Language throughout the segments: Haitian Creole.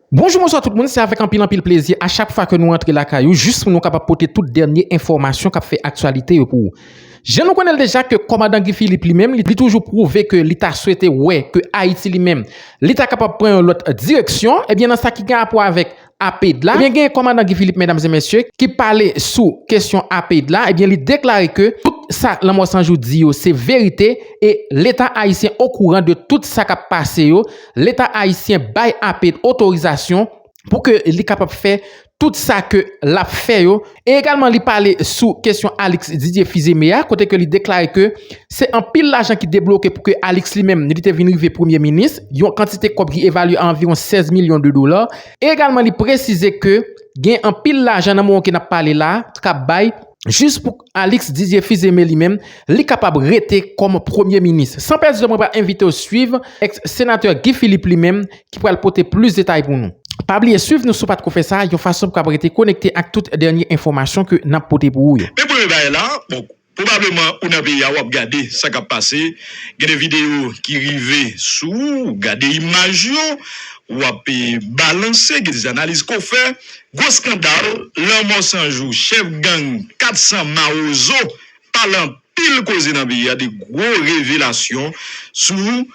Bonjou bonswa tout moun se avèk anpil anpil plezi a chak fwa ke nou antre lakay ou jis pou nou kapab pote tout dènye enfòmasyon kap fè aktyalite yo pou ou. Jan nou konnenl deja ke kòmandan Guy Philippe li menm li toujou pwouve ke li ta swete wè ke Ayiti li menm li ta kapab pran yon lòt direksyon ebyen nan sa ki gen rapò avèk APEID la ebyen gen kòmandan Guy Philippe medam e mesye ki pale sou kesyon APEID la ebyen li deklare ke tout sa Lanmò 100 jou di yo se verite e leta ayisyen okouran de tout sa kap pase yo Leta Ayisyen bay ape otorizasyon pou ke li kapab fè tout sa ke l ap fè yo e egalman li pale sou kesyon Alix Didier Fils-Aimé a kote ke li deklare ke se anpil lajan ki debloke pou ke Alix li menm li te vin rive premye minis yon kantite kòb ki evalye a anviwon 16 milyon de dola e egalman li presize ke gen anpil lajan nan moman ke n ap pale la k ap bay jis pou Alix Didier Fils-Aimé li menm, li kapab rete kòm premye minis. San pèdi tan mwen pral envite w swiv ex senatè Guy Philippe li menm ki pral pote plis detay pou nou. Pa bliye swiv nou si w pa t ko fè sa, yon fason pou w kab rete konekte ak tout dènye enfòmasyon ke n ap pote pou ou yo. Men premye bagay la, bon, pwobableman ou nan peyi a w ap gade sa k ap pase, gen de videyo ki rive sou ou, w gade imaj yo, w ap balanse, gen de analiz ke w fè, Gwo skandal, lanmò san jou chèf gang 400 mawozo pale anpil koze nan peyi a, 2 gwo revelasyon sou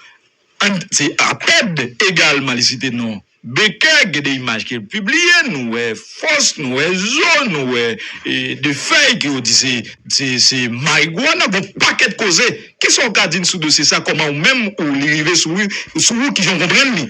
An se apèd egalman li site non Bekè gen 2 imaj ke l pibliye nou wè fòs nou wè zo nou wè 2 fèy ke yo di se se marigwana gon pakèt koze kisa w ka di n sou dosye sa kòman ou menm ou li rive sou ou sou ou kijan w konprann li?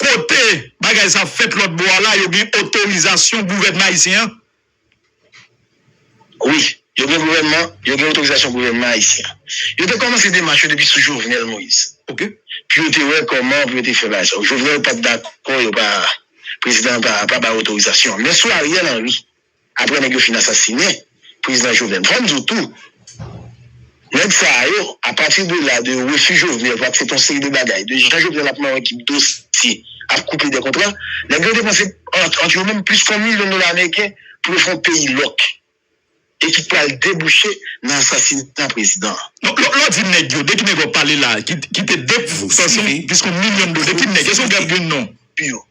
kote bagay sa ap fèt lòt bò a la yo gen otorizasyon gouvènman ayisyen an? Wi, yo gen gouvènman, yo gen otorizasyon gouvènman ayisyen an. Yo te kòmanse demach yo depi sou Jovenel Moïse. Ok. Pou yo te wè kòman pou yo te fè bagay sa yo. Jovenel pat dakò yo pa, prezidan an pa bay otorizasyon an. Men sou Ariel Henry. aprè nèg yo fin asasine prezidan jovenel fòm di w tou nèg sa yo apati de la de refi jovenel pou aksepte yon seri de bagay de jan jovenel ap mare kip dosye ap koupe de kontra nèg yo depanse ant yo menm plis kon milyon dola ameriken pou yo fè yon peyi lòk e ki pral debouche nan asasina prezidan an. Lè w di nèg yo de ki nèg wap pale la ki te depanse plis kon milyon dola de ki nèg èske w gen yon non pou yo.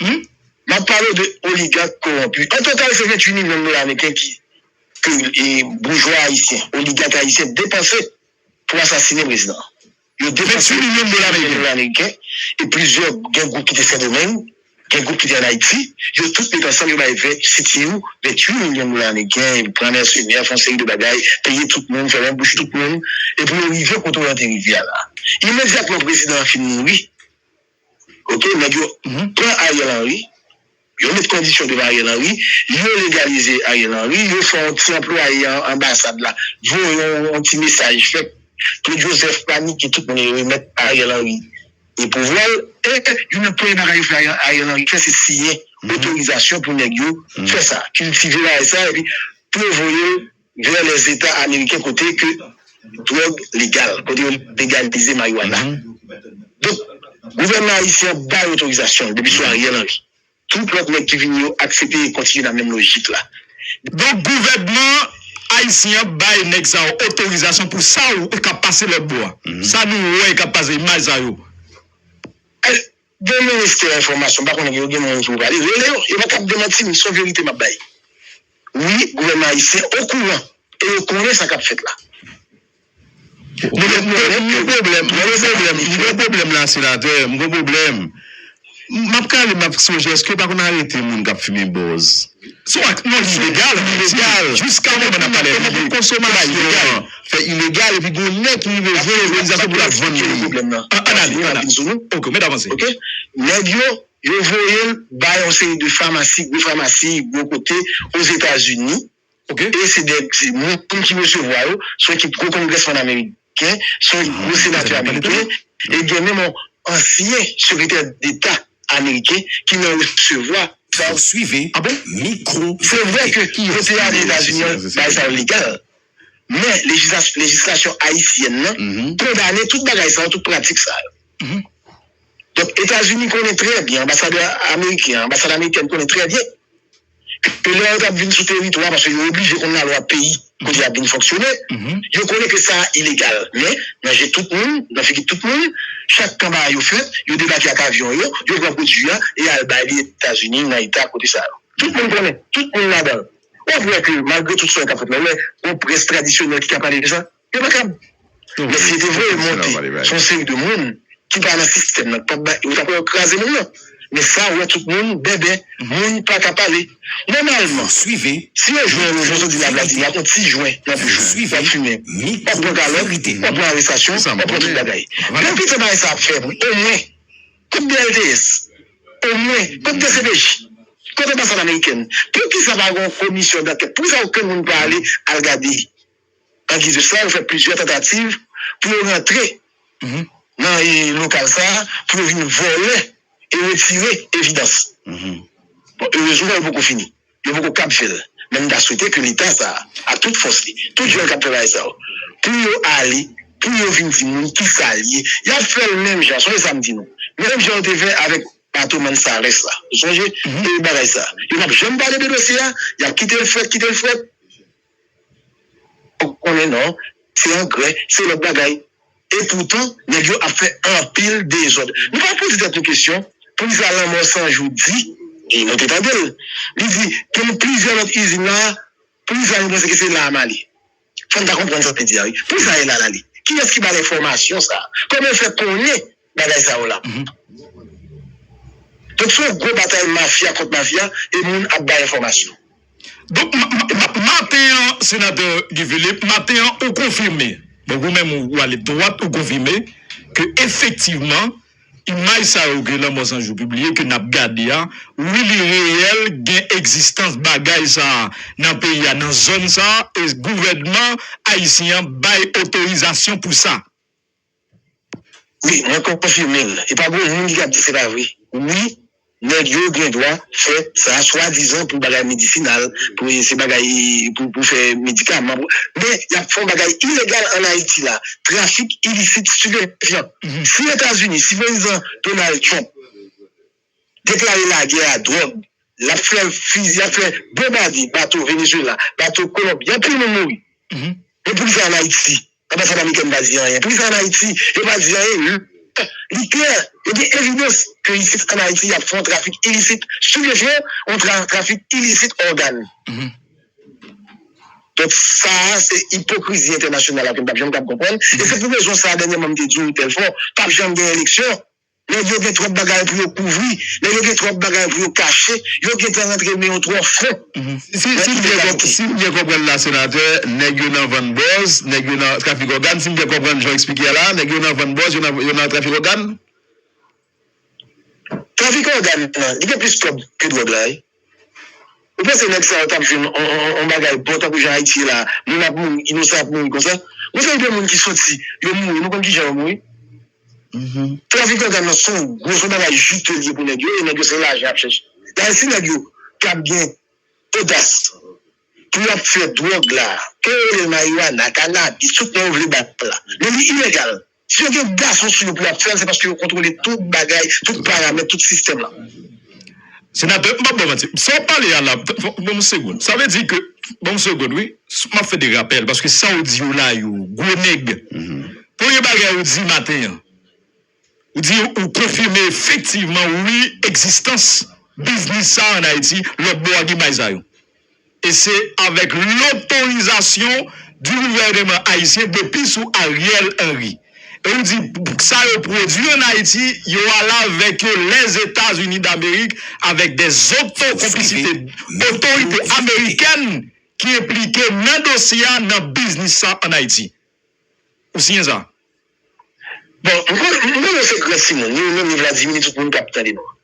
Humm map pale de oligak koronpi an total se 28 milyon dola ameriken ki ke boujwa ayisyen oligak ayisyen depanse pou asasine prezidan an yo depanse 28 milyon dola ameriken e plizyè gen gwoup ki te sendomeng gen gwoup ki te an ayiti yo tout met ansanm yo bay 20 sitiw 28 milyon dola ameriken pran mèsenè fon seri de bagay peye tout moun fèmen bouch tout moun epou yo rive kote yo te rive a la imedyatman prezidan an fin mouri. Ok nèg yo pran Ariel Henry yo met kondisyon devan Ariel Henry yo legalize Ariel Henry yo fè yon ti anplwaye anbasad la voye yon ti mesaj fè Claude Joseph panike tout moun remèt Ariel Henry e pouvwa l e youn nan premye bagay yo fè Ariel Henry fè se siyen otorizasyon pou nèg yo fè sa kiltive bagay sa epi pou yo voye l Gè Lèzeta Ameriken kote ke dwòg legal, kote yo legalize marijuana. Donk, gouvènman ayisyen an bay otorizasyon l depi sou Ariel Henry. Tout lòt nèg ki vini yo aksepte e kontinye nan menm lojik la. Donk, gouvènman ayisyen an bay nèg sa yo otorizasyon pou sa yo k ap pase lòtbò a. Sa nou wè k ap pase, imaj sa yo. Gen ministè enfòmasyon m pa konnen yo gen moun ki pou pale, rele yo, yo pa kab demanti m, son verite m ap bay. Wi, gouvènman ayisyen okouran e yo konnen sa k ap fèt la. Mwen gen pwoblèm, mwen gen pwoblèm, m gen pwoblèm la senatè, m gen pwoblèm. M ap kale m ap sonje èske yo pa konn arete moun k ap fimen bòz? Sou ak yon ilegal an Ayiti, jiska moman n ap pale la, yon konsomasyon ilegal fè ilegal epi gen yon nèg ki rive jwenn otorizasyon pou l ap vann li. An an ale, an ale. Ok, met avanse. Nèg yo, yo voye l bay yon seri de famasi, gwo famasi, gwo kote Ozetazini. Ok. E se de, se moun ki resevwa yo, se yon ekip gwo kongrèsman ameriken. Ameriken, se yon senatè ameriken e gen menm yon ansyen sekretè deta ameriken ki nan resevwa. Pourswive mikro. Se vre ke kote ale Etazini an bay sa yo legal, men lejislasyon ayisyèn nan kondane tout bagay sa yo, tout pratik sa yo. Donk Etazini konnen trè byen, anbasadè ameriken an, anbasad amerikèn konnen trè byen ke lè yo t ap vin sou teritwa a, paske yo oblije konn lalwa peyi kote y ap vin fonksyone, yo konnen ke sa a ilegal. Men, nan je tout moun, nan figi tout moun, chak kanba a yo fèt, yo debake ak avyon yo, yo pran pwodui a e al bay li Etazini nan eta kote sa yo. Tout moun konnen, tout moun ladan l. Ou kwè ke malgre tout sa yo t ap fèt la, ou wè yon près tradisyonèl ki ka pale de sa? Yo pa kab. Men si yo te voye monte son seri de moun ki pa nan sistèm nan, pap bay, yo tap wè yo kraze moun nan. Men sa ou wè tout moun bèbè, moun pa ka pale. Nòmalman, si yo jwenn ou jodi la Vladi wap on ti jwen nan bouch ou, wap fimen, wap pran kalòt, wap pran arestasyon, wap pran tout bagay. Depi tan bagay sa ap fèt, omwen, kot BLTS? Omwen, kot dcpj? Kot anbasad amerikèn? Poukisa pa gen yon komisyon dankèt? Poukisa okenn moun pa ale al gade? An giz de swa, yo fè plizyè tantativ pou yo rantre nan lokal sa a, pou yo vin vòlè e retire evidans. Bon, erezman yo poko fini. Yo poko kab fè l. Men m ta swete ke leta sa a, ak tout fòs li, tout jèn k ap fè bagay sa yo, pou yo ale, pou yo vin di moun ki sa l ye. Y ap fè l menm jan, sonje sa m di nou, menm jan yo te fè avèk bato Mansalès la. Ou sonje? Yo te fè bagay sa a. Yo p ap janm pale de dosye a. Y ap kite l frèt, kite l frèt. Ou konnen non, se angrè, se lòt bagay. E poutan, nèg yo ap fè anpil dezòd. Nou pa poze tèt nou kesyon, poukisa Lanmò 100 jou di, e nou te tande l, li di gen plizyè lòt izin la a, poukisa nou panse ke se la a mal ye? Fò n ta konprann sa l te di a wi. Poukisa e la l ale? Kiyès ki ba l enfòmasyon sa a? Kòman l fè konnen bagay sa yo la donk se yon gwo batay mafya kont mafya e moun ap bay enfòmasyon. Donk maten an senatè Guy Philippe maten an ou konfime donk ou menm ou ale dwat ou konfime ke efektivman imaj sa yo ke lanmò 100 jou pibliye ke nap gade a wi li reyèl gen egzistans bagay sa nan peyi a nan zòn sa e gouvènman ayisyen an bay otorizasyon pou sa. Wi mwen konfime l e pa gen moun ki ka di se pa vre wi nèg yo gen dwa fè sa swadizan pou bagay medisinal pou se bagay pou fè medikaman men y ap fè yon bagay ilegal an Ayiti la trafik ilisit stipefyan si etazini si prezidan Donald Trump Deklare lagè a dwòg, l ap fè fizi, l ap fè bonbade bato Venezuela, bato Kolonbi, anpil moun mouri. Men pou ki sa an Ayiti, anbasad amerikèn pa di anyen? Pou ki sa an Ayiti, yo pa di anyen lè li klè, li gen evidans ke isit an Ayiti y ap fè yon trafik ilisit stipefyan ou trafik ilisit ògàn? Donk sa a se ipokrizi entènasyonal la ke m pa p janm ka p konprann e se pou rezon sa a dènyèman m te di w tèlfò, pa p janm gen eleksyon. Nèg yo gen twòp bagay pou yo kouvri, nèg yo gen twòp bagay pou yo kache, yo gentan rantre men yo twò fon. Si m byen konprann, si m byen konprann la senatè, nèg yo nan vann bòz, nèg yo nan trafik ògàn, si m byen konprann jan w eksplike a la, nèg yo nan vann bòz, yo nan yo nan trafik ògàn? Trafik ògàn nan, li gen plis kòb ke dwòg la wi. Ou panse nèg sa yo tap jwenn yon bagay bon tankou jan Ayiti ye la a, moun ap mouri, inosan ap mouri konsa? Gon seri de moun ki soti, yo mouri, nou konn kijan yo mouri? Trafik ògàn nan son gwo bagay jiteux li ye pou nèg yo e nèg yo se lajan yap chèche. Dayè si nèg yo tap gen odas pou yap fè dwòg la, ke yo rele l mariwana, kanabis, tout non yo vle ba l la, men li ilegal. Si yo gen gason sou yo pou yap fèl se paske yo kontwole tout bagay, tout paramèt, tout sistèm la. Senatè, m pap baw manti, sa wap pale a la, banm yon segond, sa vle di ke, banm yon segond wi, map fè de rapèl paske sa ou di yo la yo gwo nèg, premye bagay ou di maten an, ou di ou konfime efektivman wi egzistans biznis sa an Ayiti lòtbò a gen may sa yo. E se avèk lotorizasyon di gouvèneman ayisyen depi sou Ariel Henry. E ou di sa yo pwodwi an Ayiti, yo al avèk yo Lèzetazini Damerik avèk de zoto konplisite otorite amerikèn ki enplike nan dosye a, nan biznis sa an Ayiti. Ou siyen sa? Bon, m konnen yo se gran timoun, ni ou menm ni Vladimir ni tout moun k ap tande nou an.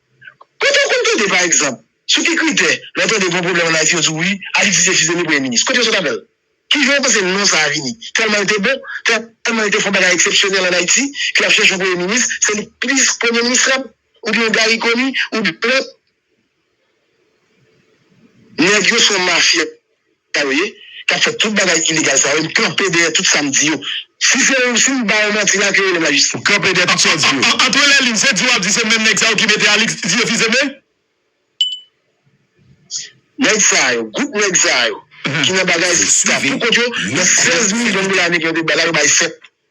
Kote w konn tande pa egzanp, sou ki kritè, lè w tande gon pwoblèm ann Ayiti yo di w wi, Alix se fis de mi premye minis. Kote yo sot avè l? Ki jan w panse non sa a vini? Tèlman l te bon? Tèlman li te fè yon bagay eksepsyonèl ann Ayiti ke y ap chèche yon premye minis, se li plis premye minis krab? Oubyen yon Garry Conille? Oubyen yon lòt? Nèg yo son mafia yo ye kap fè tout bagay ilegal sa yo m kanpe dèyè tout sam di yo si se yon sim ba yon manti la ke relem la jistis. M kanpe dèyè tout sa w di yo. Antre lè lin se di wap di se menm nèg sa yo ki mete Alix zye fize men. Nèg sa yo, gwoup nèg sa yo ki nan bagay sa poukont yo nan 16 milyon dola ameriken yo te bay la yo bay 7.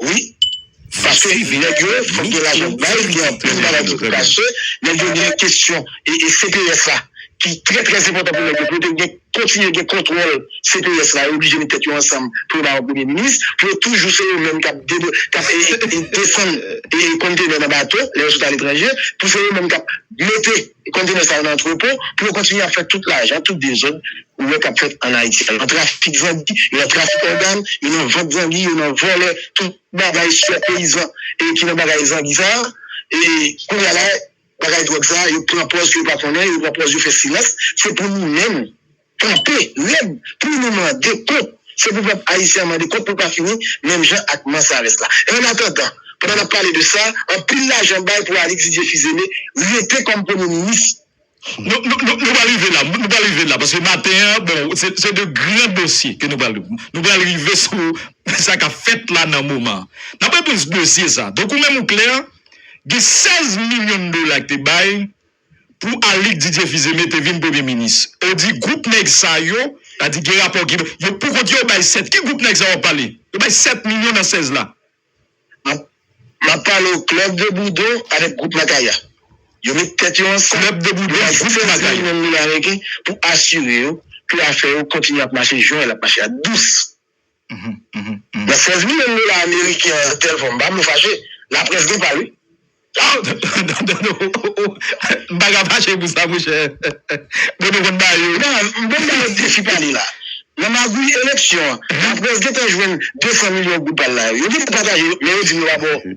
wi paske nèg yo fòk gen lajan pou bay gen anpil bagay ki pou kache nèg yo gen kesyon cps la ki trè trè enpòtan pou nèg yo pou yo te kontinye gen kontwòl cps la yo oblije met tèt yo ansanm pou yo ba yo premye minis pou yo toujou se yo menm kap desann kontenè nan bato lè yo sot aletranje pou se yo menm kap mete Kontenè sa yo nan antrepo pou yo kontinye ap fè tout lajan, tout dezòd ou wè k ap fèt ann Ayiti a. Yo nan trafik zangi, yo nan trafik ògàn, yo nan vant zangi, yo nan vòlè tout bagay sou tèt peyizan ki nan bagay zangi sa a. E kounye a la, bagay dwòg sa a, yo pran pòz ke yo pa konnen, yo pran pòz yo fè silans. Se pou nou menm. Kanpe rèd pou nou mande kont. Se pou pèp ayisyen an mande kont pou l pa fini menm jan ak Mansares la. Annatandan, pandan n ap pale de sa, anpil lajan bay pou Alix Didier Fils-Aimé rete kòm premye minis. Nou pral rive la, nou pral rive la paske maten an, bon, se de gran dosye ke nou pral, nou pral rive sou sa k ap fèt la nan moman an. N ap reponn sou dosye sa. Donk ou menm ou klè, gen 16 milyon dola ki te bay pou Alick Didier Fils-Aimé te vin premye minis ou di group nèg sa yo ta di gen rapò ki yo pou kont yo bay 7 ki group nèg sa wap pale yo bay 7 milyon nan 16 la. Map pale w club de boudon avèk group makaya yo met tèt yo ansanm club de boudon ak group makaya yo bay 16 milyon dola ameriken pou asire yo ke afè yo kontinye ap mache jan lap mache a dous. Nan 16 milyon dola ameriken an yon tèl fòm, pa vle w fache, laprès gen pa l wi. Dodo, M pa ka fache pou sa monchè. Dodo konn ba yo. Nan, m konn ba yo defi pa li la. Nan magouy eleksyon an, laprès gentan jwenn 200 milyon goud pa l la yo. Yo gentan pataje yo, men yo di m yo pa ba w.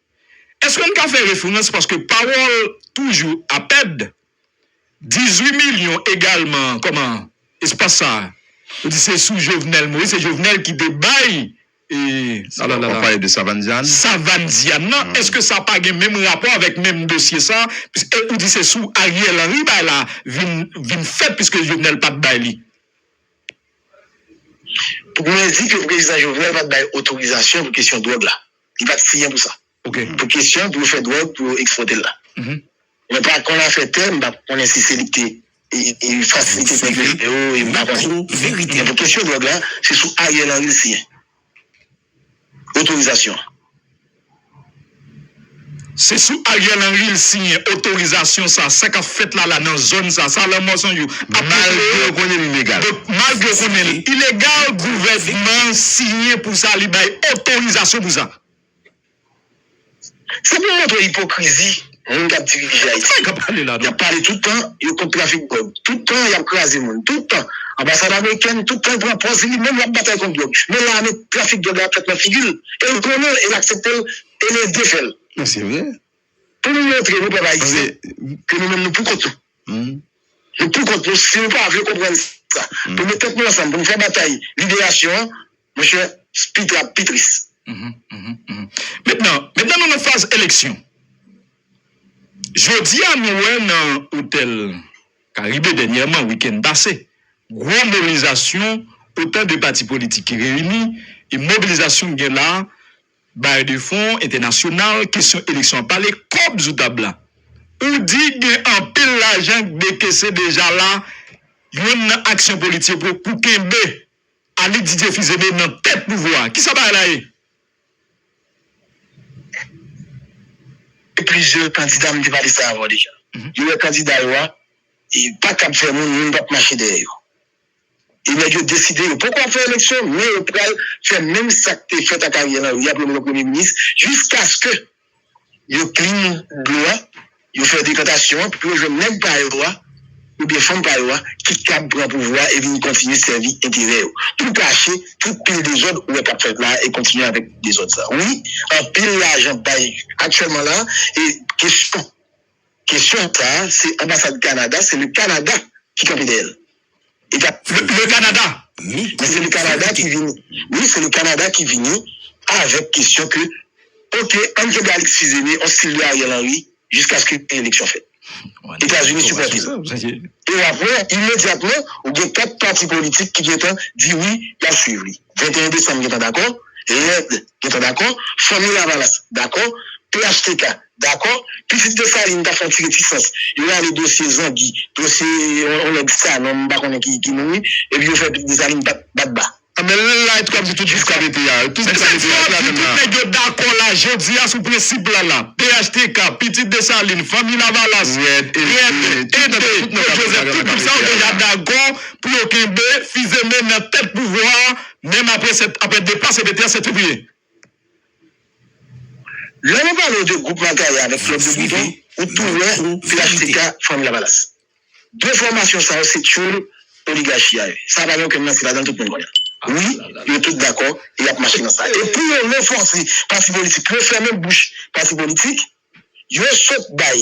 Eske n ka fè referans paske pawòl toujou apèd, dizui milyon egalman kòman espas sa a ou di se sou Jovenel Moïse se Jovenel ki te bay e alalala. Wap pale de Savann Dyann? Savann Dyann nan eske sa pa gen menm rapò avèk menm dosye sa e ou di se sou Ariel Henry bay la vin vin fèt piske Jovenel pat bay li? Pou mwen di ke prezidan Jovenel pat bay otorizasyon pou kesyon dwòg la. Li pat siyen pou sa. Pou kesyon pou yo fè dwòg pou yo ekspòte l la. Mwen pa konn afè tè, m pa konnen si se li ki te fasilite nèg yo jwenn yo e m pa konnen. Men pou kesyon dwòg la, se sou Ariel Henry l siyen otorizasyon an. Se sou Ariel Henry l siyen otorizasyon sa, sa kap fèt la la nan zòn sa, sa lanmò san jou ap tou kreye, malgre yo konnen l ilegal, donk malgre yo konnen l ilegal gouvènman an siyen pou sa li bay otorizasyon pou sa. Se pou montre ipokrizi moun kap dirije Ayiti yo, yap pale tout tan yo kont trafik dwòg, tout tan yap kraze moun, tout tan anbasad amerikèn tout tan pran pòz li menm lap batay kont dwòg, men lame trafik dwòg la ap fèt nan figi l, e l konnen l e l aksepte l. e nou de fè l. Men se vre. Pou nou montre nou pèp ayisyen ke nou menm nou pou kont nou. Nou pou kont nou si nou pa vle konprann sa. Pou met tèt nou ansanm pou nou fè batay liberasyon an, monchè pi tard ap pi tris. Mentnan, mentnan nou nan faz eleksyon. Jodi a nou wè nan otèl Karibe dènyèman, wikenn pase, gwo molizasyon otan de pati politik ki reyini e mobilizasyon k gen la. Bayè de fon entènasyonal kesyon eleksyon an pale kòb sou tab la. Ou di gen anpil lajan k dekese deja la yonn nan aksyon politik ou pou kenbe Alix Didier Fils-Aimé nan tèt pouvwa a. Kisa bayè la ye? Gen plizyè kandida m te pale sa avan w deja. Yo wè kandida yo a pa kab fè moun, moun pa p mache dèyè yo. E nèg yo deside yo poko ap fè eleksyon men yo pral fè menm sak te fèt ak Ariel Henry a pou yo mete yon premye minis jiskaske yo klin dlo a, yo fè dekantasyon an pou yo jwenn nèg pa yo a oubyen fanm pa yo a ki kab pran pouvwa e vin kontinye sèvi enterè yo pou kache tout pil dezòd ou wè kap fèt la e kontinye avèk dezòd sa. Wi anpil lajan bay aktyèlman la e kesyon. Kesyon sa a se anbasad Kanada, se le Kanada ki kanpe dèyè l. E ta. Le Kanada! Men se le Kanada ki vini. Wi, se le Kanada ki vini avèk kesyon ke ok ann kenbe Alexis Zene an stil de Ariel Henry jiskaske yon eleksyon fèt. Etazini sipòte l. E w ap wè imedyatman ou gen 4 pati politik ki gen tan di wi y ap swiv li. 21 desanm gen tan dakò, led gen tan dakò, Fanmi Lavalas dakò, phtk Dakò, pitit Desalin ta santi retisans. Yo rale dosye Zangi, dosye yon nèg Sanon, m pa konnen ki moun li, epi yo fè pitit Desalin bat bat ba. Anben l la epi w ap di tout jiska mete a. Tout jiska mete a, tout la menm la. Sa k fè tout nèg yo dakò la jodi a sou prensip la la. Phtk, pitit Desalin, fanmi Lavalas, Rèd, Ede, Claude Joseph, tout gwoup sa yo deja dakò pou yo kenbe Fizeme nan tèt pouvwa a menm aprè 7, aprè depa Sekretè Sentepri. Lè yo pale w de gwoup Magaya avèk klèb de bouton, ou tou wè phtk fanmi lavalas. De fòmasyon sa yo se tyoul oligachi a ye. Sa pa gen okenn manti ladan l, tout moun konnen l. Wi, yo tout dakò e y ap mache nan sa. E pou yo ranfòse pati politik pou yo fèmen bouch pati politik, yo sot bay.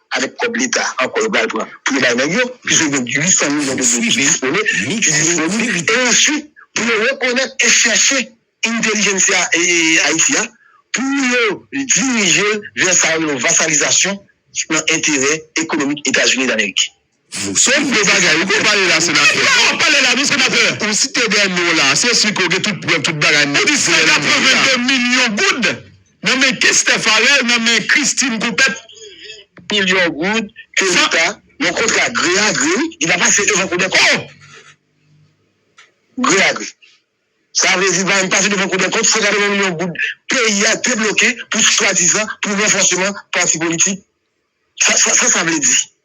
avèk kòb leta ankò yo pral pran pou yo bay nèg yo, plis yo gen 800 milyon de goud ki dispone, ki disponib, e answit pou yo rekonèt e chèche entèlijensya Ayiti a pou yo dirije l vè sa yo rele yon vasalizasyon nan enterè ekonomik Etazini Damerik. Se vre bagay ou konn pale la senatè. Sa wap pale la wi senatè. Ou site de non la se si ke ou gen tout prèv tout bagay nèt. Ou di 182 milyon goud nan men Kester Pharel nan men Christine Coupet. Milyon goud ke leta nan kontra gre a gre li pa pase devan kou dè kont. Gre a gre. Sa vle di li pa menm pase devan kou dè kont 182 milyon goud peyi a debloke pou swadizan pou ranfòseman pati politik. Sa sa vle di.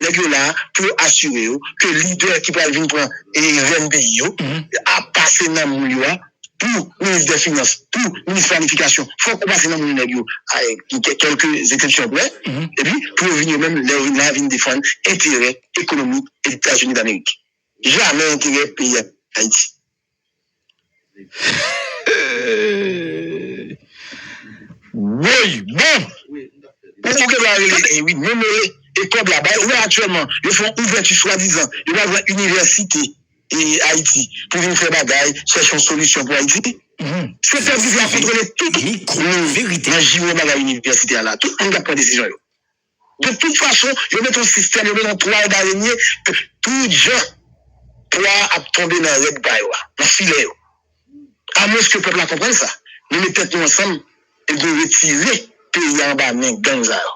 Nèg yo la pou yo asire yo ke lidè ki pral vin pran rèn peyi yo ap pase nan moun yo a. Pou minis dè finans, pou minis planifikasyon, fòk ou pase nan moun nèg yo a kèlke zepsepsyon prè. Epi pou yo vin yo menm, lè yo vin la, vin defann enterè ekonomik Etazini Damerik. Jamè enterè peyi Ayiti. Woy bon pou ou gen dwa rele li wi menm rele e kob la bay ou wè aktyèlman yo fè yon ouvèti swadizan yo pral pran inivèsite ayiti pou vin fè bagay chèche yon solisyon pou ayiti se pèp ki pou al kontwole tout nan jiwo bagay inivèsite a la tout moun kap pran desizyon yo. De tout fason, yo met yon sistèm, yo met yon twal darenye ke tout jan pwa a ap tonbe nan règ pa yo a, nan filè yo. Amwenske pèp la konprann sa, nou met tèt nou ansanm epi nou retire peyi a anba men gang sa yo.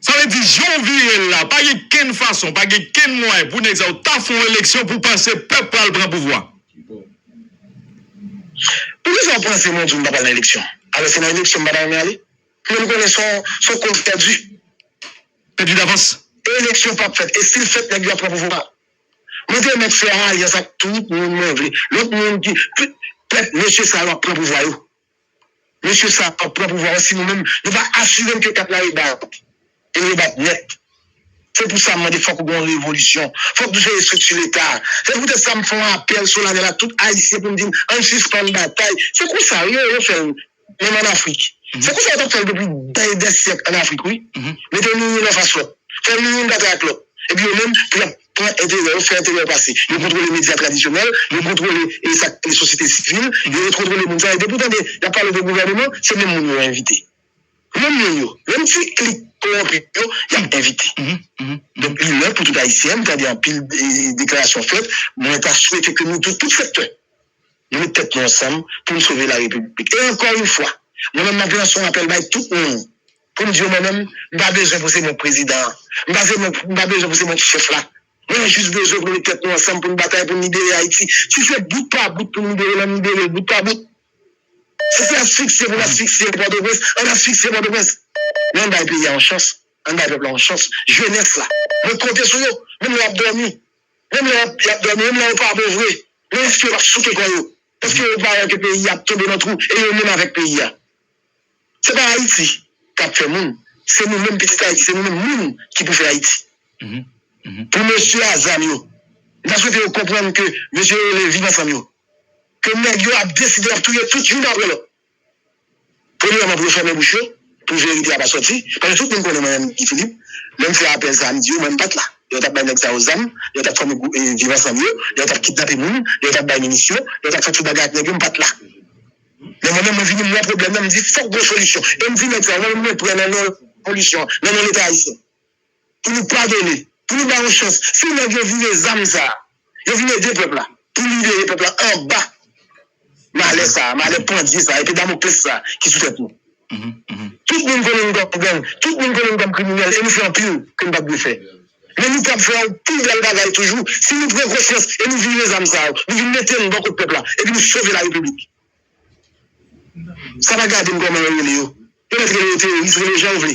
Sa vle di, jan w vire l la, pa gen kenn fason, pa gen kenn mwayen pou nèg sa yo ta fè yon eleksyon pou w panse pèp pral pran pouvwa. Poukisa w panse mwen di w m pa pral nan eleksyon? Alò se nan eleksyon m pa ta renmen ale? Fè nou konnen sa s on koz pèdi. Pèdi davans. E eleksyon pap fèt. E si l fèt nèg yo ap pran pouvwa a. Mwen te mèt fè alyans ak tout moun mwen vle. Lòt moun ki. Pèp mesye sa yo ap pran pouvwa yo. Mesye sa ap pran pouvwa yo si nou menm nou pa asire n ke kat la rebat. E l rebat nèt. Se pou sa m mande fòk gen yon revolisyon. Fòk nou chanje estrikti leta a. Se poutèt sa m fè yon apèl solanèl ak tout ayisyen pou m di n an n sispann batay. Se konsa yo yo fè l menm an afrik se konsa yo tap fèl depi dèy dè syèk an afrik wi mete nou youn anfas lòt fè nou youn batay ak lòt epi yo menm pou yap pran enterè yo fè enterè yo pase yo kontrole medya tradisyonèl yo kontrole esak e sosyete sivil yo yo kontrole moun sa yo depi ou tande yap pale de gouvèneman se menm moun yo envite menm moun yo menm ti klik kowonpi yo yap envite donk li lè pou tout ayisyen m tande anpil deklarasyon fèt mwen ta swete ke nou tou tout sektè Nou met tèt nou ansanm pou n sove la Repiblik. E ankò yon fwa, mwen menm m ap lanse yon apèl bay tout moun pou m di yo mwen menm m pa bezwen pou se mwen k prezidan an, m pa se mwen m pa bezwen pou se mwen ki chèf la. Mwen jis bezwen pou nou met tèt nou ansanm pou n batay pou n libere Ayiti. Si se bout pa bout pou n libere l, an n libere l bout pa bout. Si se asfiksye pou n asfiksye Pòtoprens, an n asfiksye Pòtoprens. Men an n bay peyi a yon chans, an n bay pèp la yon chans, jenès la. Mwen konte sou yo, menm lè y ap dòmi. Menm lè yap yap dòmi, menm lè yo pa bon vre, men èske yo pap souke kò yo? Èske yo pa wè ke peyi a ap tonbe nan twou e yo menm avèk peyi a? Se pa Ayiti kap fè moun, se nou menm pitit Ayiti, se nou menm moun ki pou fè Ayiti. Pou mesye a zam yo, m ta swete yo konprann ke mesye yo rele Viv Ansanm yo, ke nèg yo ap deside yap touye tout youn aprè lòt. Premyèman pou yo fèmen bouch yo, pou verite a pa sòti, paske tout moun konnen mwen menm Guy Philippe, lè m fè apèl sa a m di yo mwen m pa t la lè yo t ap bay nèg sa yo zam, lè yo t ap fòme gwoup viv ansanm yo, lè yo t ap kidnape moun, lè yo t ap bay minisyon, lè yo t ap fè tout bagay ak nèg yo m pa t la. Men mwen menm mwen vini m wè pwoblèm nan m di fòk gen yon solisyon e m di nèg sa yo mwen menm mwen prè nan non solisyon an, nan non leta ayisyen. pou nou padone, pou nou bay yon chans si nèg yo vire zam sa a, yo vin ede pèp la pou libere pèp la anba malè sa a, malè pandye sa a, epe damoklès sa a ki sou tèt nou. Tout moun konnen nou kòm gang, tout moun konnen nou kòm kriminèl e nou fè anpil ke nou pa t dwe fè. Men nou kab fè yon pi bèl bagay toujou si nou pran konsyans e nou vire zam sa yo, nou vin mete l bò kot pèp la epi nou sove larepiblik. Sa pa gade m kòman yo rele yo. Yo mèt rele yo teworis, rele yo jan yo vle.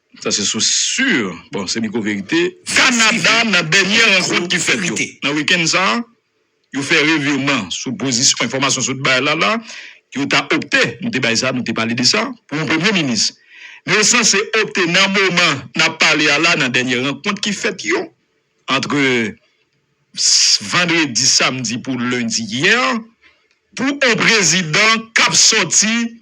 Sa se sous sur, bon se miko verite. Kanada nan dènye rankont ki fèt yo nan wikenn sa a, yo fè revirman sou pozisyon enfòmasyon sot bay la la yo ta opte, nou te bay sa, nou te pale de sa, pou yon premye minis. Men yo sanse opte nan moman n ap pale a la nan dènye rankont ki fèt yo antre vandredi, samdi pou lendi yè pou yon prezidan k ap sòti.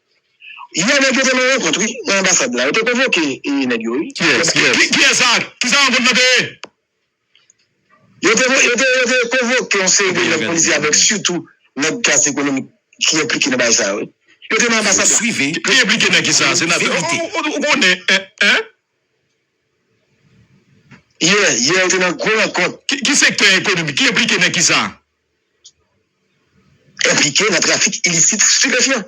Yè nèg yo te nan rankont wi nan anbasad la yo te konvoke nèg yo wi. Kiyès kiyès. Kiyès sa kisa rankont lan te ye. Yo te yo te yo te konvoke yon seri de nèg politik avèk sitou nèg klas ekonomik ki enplike nan bagay sa yo wi yo te nan anbasad la. Suive. Li enplike nan kisa senatè ou konnen hein. Yè yè yo te nan gwo rankont. Ki sektè ekonomik ki enplike nan kisa. Enplike nan trafik ilisit stipefyan.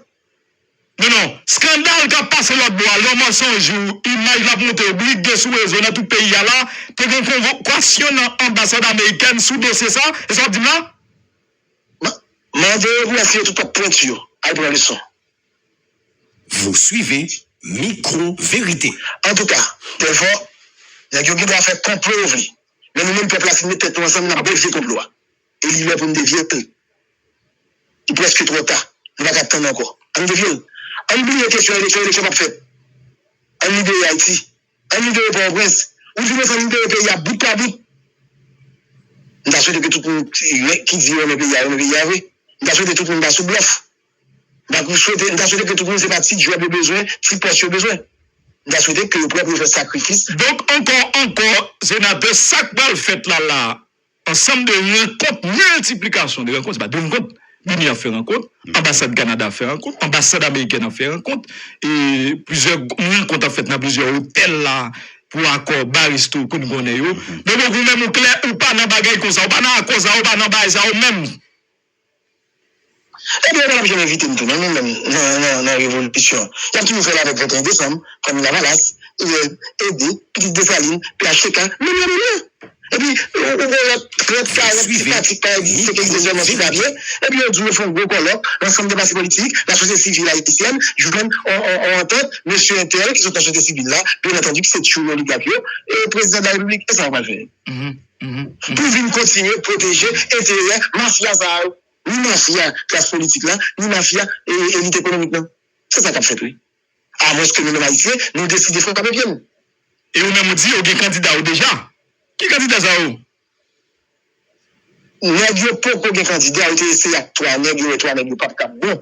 Non non, skandal kap pase lòt bò a yon mansonj ou imaj lap moute blide sou rezo nan tout peyi a la, te gen konvokasyon nan anbasad amerikèn sou dosye sa, e sa wap dim la? Mande yo pou la file tout pap pwenti yo al pran leson. Vous suivez Micro Vérité. Antouka, Delfort, nèg yo gen dwa fè konplo yo vle. Men nou menm pèp la si n met tèt nou ansanm n ap devye konplo a e li lè pou n devye l. Li prèske twò ta. Nou pa ka tann ankò. Ann devye l. Ann bliye kesyon eleksyon. Eleksyon p ap fèt. Ann libere Ayiti. Ann libere Pòtoprens. Ou di m ansanm libere peyi a bout pa bout. M ta swete ke tout moun ki di yo renmen peyi a renmen peyi a vre. M ta swete tout moun pa sou blòf. Donk m swete, m ta swete ke tout moun se pa ti djòb yo bezwen, ti pòs yo bezwen. M ta swete ke yo prè pou yo fè sakrifis. Donk ankò ankò, Senatè, sa k pral fèt la la a, ansanm de rankont, miltiplikasyon de rankont, se pa de rankont, BIMI ap fè rankont, Anbasad Kanada ap fè rankont, Anbasad Amerikèn ap fè rankont, e plizyè rankont ap fèt nan plizyè otèl la a pou akò ba resto ke n konnen yo. Donk ou menm ou klè, ou pa nan bagay konsa, ou pa nan akò sa yo, ou pa nan baay sa yo menm. Ebyen yo pa tap janm envite m tou non menm nan revolisyon. Yap toujou fèl avèk 21 desanm, fanmi lavalas, Hugues, Ede, pitit Desalin, phtk, menm yo menm yo. Epi ou gen lòt 30, 40 ti pratik pa egziste ki egziste sèlman sou papye, epi yo di w yo fè yon gwo kòlòk, lansanm de pati politik, lasosyete sivil ayisyèn jwenn yon antant, mesye entèl ki sot nan sosyete sivil la, byenantandi ki se tchoul oligak yo, e prezidan de la repiblik, e sa yo pral fè? pou vin kontinye pwoteje enterè mafya sa yo. Ni mafya klas politik la, ni mafya elit ekonomik nan. Se sa k ap fèt wi. Amwenske nou menm Ayisyen, nou deside frape pye nou. E ou menm ou di ou gen kandida ou deja. Ki kandida sa yo? Nèg yo poko gen kandida, yo te eseye ak 3 nèg, yo wè 3 nèg yo pap kab bon.